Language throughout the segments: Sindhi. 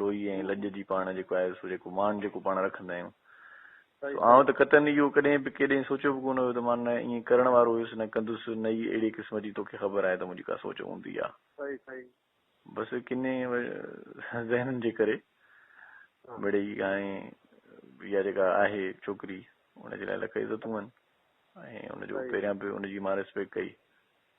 لوئي ۽ لڄ جي پاڻ جيڪو آهي سو جيڪو مان جيڪو پاڻ رکندا آهيون سو آئون ته قطعاً اهو ڪڏهن به ڪيڏانهن سوچيو به ڪونه هيو ته مان نه ائين ڪرڻ وارو هيس نه ڪندس نه ئي اهڙي قسم جي توکي خبر آهي ته منهنجي ڪا سوچ هوندي آهي بس ڪنهن ذهنن جي ڪري مڙئي هاڻي اها جيڪا آهي ڇوڪري ان جي لاء لک عزتون آهن ۽ ان جو پهريان به ان جي مان ريسپيڪٽ ڪئي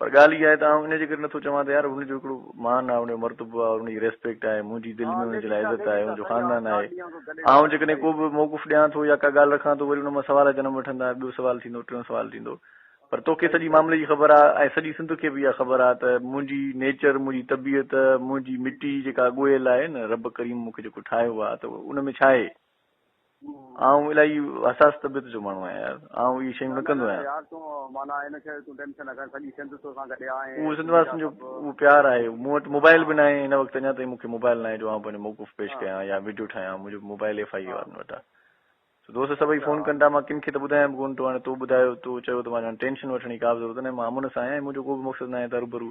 پر ڳالهه اها آهي ته آئون ان جي ڪري نٿو چوان ته يار ان جو هڪڙو مان آهي، ان جو مرتبو آهي، ان جي ريسپيڪٽ آهي، منهنجي دل ۾ ان جي لاء عزت آهي، ان جو خاندان آهي. آئون جيڪڏهن ڪو به موقف ڏيان ٿو يا ڪا ڳالهه رکان ٿو وري ان مان سوال جنم وٺندا، ٻيو سوال ٿيندو، ٽيون سوال ٿيندو. پر توکي سڄي معاملي جي خبر آهي ۽ سڄي سنڌ کي به اها خبر آهي ته منهنجي نيچر، منهنجي طبيعت، منهنجي مٽي جيڪا ڳوهيل آهي نه رب ڪريم مون کي جيڪو ٺاهيو آهي ته ان ۾ ڇا آهي؟ آئون الاهي حساس طبيعت جو ماڻهو آهيان يار. آئون اهي شيون نه ڪندو آهيان. نه نه يار تون معنيٰ هن کي تون ٽينشن نه کڻ سڄي سنڌ تو سان گڏ آهي. اهو سنڌ واسين جو اهو پيار آهي. مون وٽ موبائل به ناهي هن وقت اڃا تائين مون کي موبائل ناهي جو آئون پنهنجو موقف پيش ڪيان يا وڊيو ٺاهيان منهنجو موبائل ايف آئي اي وارن وٽ آهي سو دوست سڀئي فون ڪن ٿا مان ڪن کي ته ٻڌايان به ڪون ٿو هاڻي تو ٻڌايو تو چيو ته مان چيو ٽينشن وٺڻ جي ڪا به ضرورت ناهي مان امن سان آهيان ۽ منهنجو ڪو به مقصد ناهي ته هرو ڀرو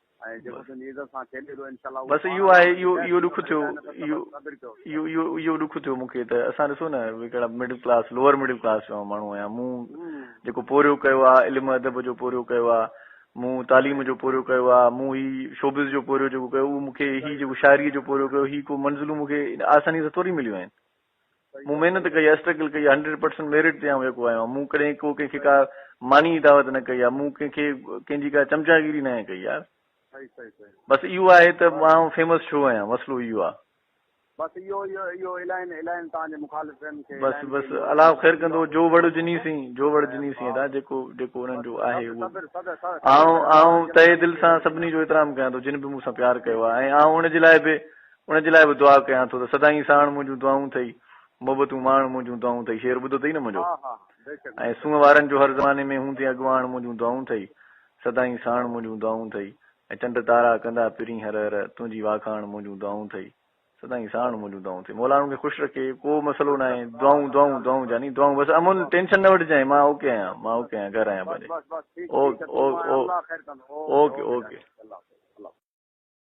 ۽ جيڪو تنهنجي عزت سان کيڏي ٿو انشاء الله بس اهو آهي اهو اهو ڏک ٿيو اهو اهو اهو ڏک ٿيو مونکي ته اسان ڏسو نه ڪهڙا middle class lower middle class جو ماڻهو آهيان مون جيڪو پورهيو ڪيو آهي علم ادب جو پورهيو ڪيو آهي مون تعليم جو پورهيو ڪيو آهي مون هي شوبز جو پورهيو جيڪو ڪيو اهو مونکي هي جيڪو شاعري جو پورهيو ڪيو هي ڪو منزلون مونکي آساني سان ٿوري مليون آهن مون محنت ڪئي آهي اسٽرگل ڪئي آهي هنڊريڊ پرسنٽ ميرٽ تي آئون يڪو آيو آهيان مون ڪڏهن ڪو ڪنهن کي ڪا ماني جي دعوت نه ڪئي آهي مون ڪنهن کي ڪنهن جي ڪا چمچاگيري ناهي ڪئي يار بس اهو آهي ته آئون فيمس ڇو آهيان مسئلو اهو آهي بس اهو اهو الائن الائن تان جي مخالفن کي بس بس الله خير ڪندو جو وڙ جني سين جو وڙ جني سين دا جيڪو جيڪو انهن جو آهي اهو آئون آئون تهه دل سان سڀني جو احترام ڪيان ٿو جن به مون سان پيار ڪيو آهي ۽ آئون ان جي لاء به ان جي لاء به دعا ڪيان ٿو ته سدائين ساڻ منهنجون دعائون ٿئي محبتون ماڻ منهنجون دعائون ٿئي شعر ٻڌو اٿئي نه منهنجو ۽ سونهن وارن جو هر زماني ۾ هوندين اڳواڻ منهنجون دعائون ٿئي سدائين ساڻ منهنجون دعائون ٿئي ۽ چنڊ تارا ڪندا پرين هر هر تنهنجي واکاڻ منهنجون دعائون ٿئي سدائين ساڻ منهنجون دعائون ٿئي مولا انهن کي خوش رکي ڪو مسئلو ناهي دعائون دعائون دعائون جاني دعائون بس امن ٽينشن نه وٺجانء مان اوڪي آهيان مان اوڪي آهيان گهر آهيان پنهنجي اوڪي اوڪي اوڪي اوڪي